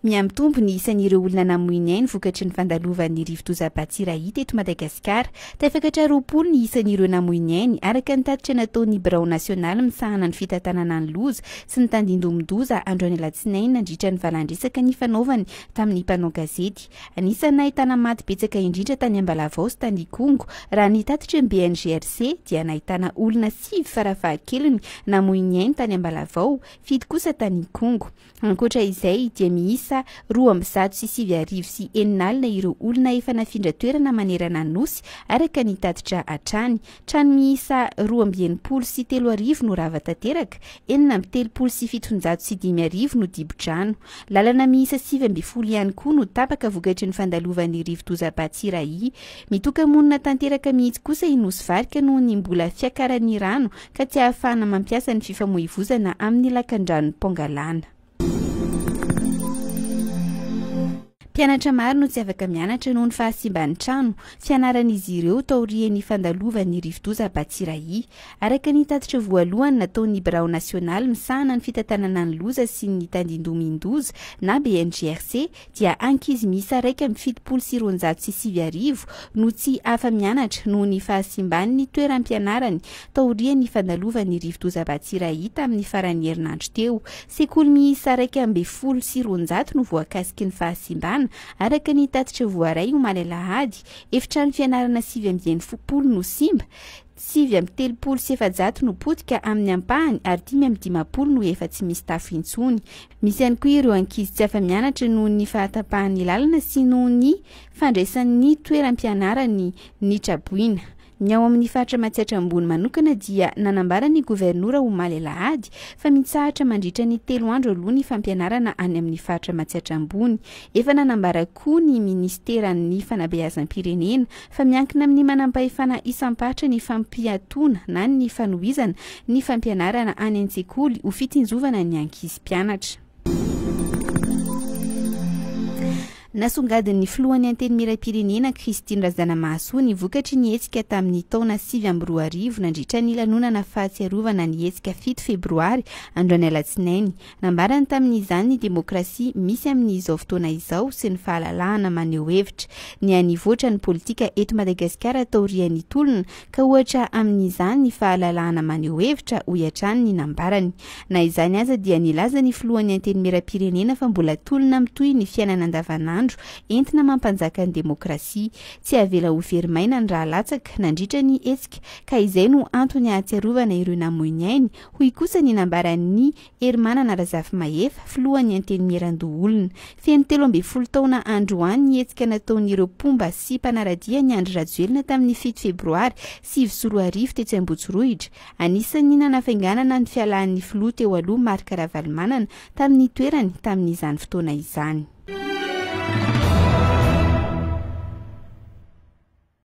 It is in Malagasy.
Mihamitombo ny isan'ireo olona namoy ny ainy vokatry ny fandalovan'ny rivodoza Batsirai teto Madagasikara. Tafakatra roapolo ny isan'ireo namoy ny ainy, araka ny tatitra nataon'ny birao nasionaly misahana ny fitantanana ny loza sy ny tandindomin-doza androany alatsinainy nandritra ny valandresaka nifanaovany tamin'ny mpanao gazety. Anisan'ny nahitana maty betsaka indrindra tany Ambalavao sy tany Ikongo. Raha ny tatitry ny BNGRC dia nahitana olona sivy farafahakeliny namoy ny ainy tany Ambalavao, fito kosa tany Ikongo. Ankoatra izay dia miisa roa amby zato sy sivy arivo sy enina alina ireo olona efa nafindra toerana manerana ny Nosy araka ny tatitra hatrany. Trano miisa roa amby enimpolo sy telo arivo no rava tanteraka, enina amby telopolo sy fitonjato sy dimy arivo no dibo-drano. Lalana miisa sivy ambin'ny folo ihany koa no tapaka vokatry ny fandalovan'ny rivodoza Batsirai. Mitoka-monina tanteraka mihitsy kosa i Nosy Varika noho ny mbola fiakaran'ny rano ka tsy ahafahana mampiasa ny fifamoivozana amin'ny lakandranon'i Pongalana. Mpianatra maro no tsy afaka mianatra noho ny fahasimban'ny trano fianaran'izy ireo taorian'ny fandalovan'ny rivodoza Batsirai. Araka ny tatitra voalohany nataon'ny birao nasionaly misahana ny fitantanana ny loza sy ny tandindomin-doza na BNGRC dia ankizy miisa iraika amby fitopolo sy roanjato sy sivy arivo no tsy afa-mianatra noho ny fahasimban'ny toeram-pianarany taorian'ny fandalovan'ny rivodoza Batsirai tamin'ny faran'ny herinandro teo. Sekoly miisa iraika ambin'ny folo sy roanjato no voakasiky ny fahasimbana, araka ny tatitra voaray omaly alahady, efitrano fianarana sivy amby enimpolo no simba, Sivy amby telopolo sy efajato no potika amin'ny ampahany ary dimy amby dimampolo no efa tsy misy tafo intsony. Misy ihany koa ireo ankizy tsy afa-mianatra noho ny fahatapahan'ny lalana sy noho ny fandraisan'ny toeram-pianarany ny traboina. Ny ao amin'ny faritra Matsiatra Ambony manokana dia nanambara ny governora omaly alahady fa mitsahatra mandritra ny telo andro aloha ny fampianarana any amin'ny faritra Matsiatra Ambony. Efa nanambara koa ny minisiteran'ny fanabeazam-pirenena fa miankina amin'ny manampahefana isam-paritra ny fampiatoana na ny fanohizana ny fampianarana any an-tsekoly ho fitsinjovana ny ankizy mpianatra. Nasongadin'ny filohan'ny Antenimierampirenena, Christine Razanamahasoa ny vokatry ny hetsika tamin'ny taona sivy amby roa arivo nandritra ny lanonana fahatsiarovana ny hetsika fito febroary, androany alatsinainy. Nambarany tamin'izany ny demokrasia misy amin'izao fotoana izao sy ny fahalalahana maneho hevitra. Niha nivoatra ny politika eto Madagasikara taorian'ny tolona ka ohatra amin'izany ny fahalalahana maneho hevitra, hoy hatrany ny nambarany. Na izany aza dia nilaza ny filohan'ny Antenimierampirenena fa mbola tolona mitohy ny fiainana andavanandro entina mampanjaka ny demokrasia. Tsy avela ho very maina ny rahalatsaka nandritra ny hetsika ka izay no antony ahatsiarovana ireo namoy ny ainy, Hoy kosa ny nambaran'i Herimanana Razafimahefa, filohan'ny Antenimierandoholona. Feno telo ambin'ny folo taona androany ny hetsika nataon'ireo mpomba sy mpanara-dia an'i Andry Rajoelina tamin'ny fito febroary sivy sy roa arivo tetsy Ambotsorohitra. Anisan'ny nanafainganana ny fialan'ny filoha teo aloha Marc Ravalomanana tamin'ny toerany tamin'izany fotoana izany.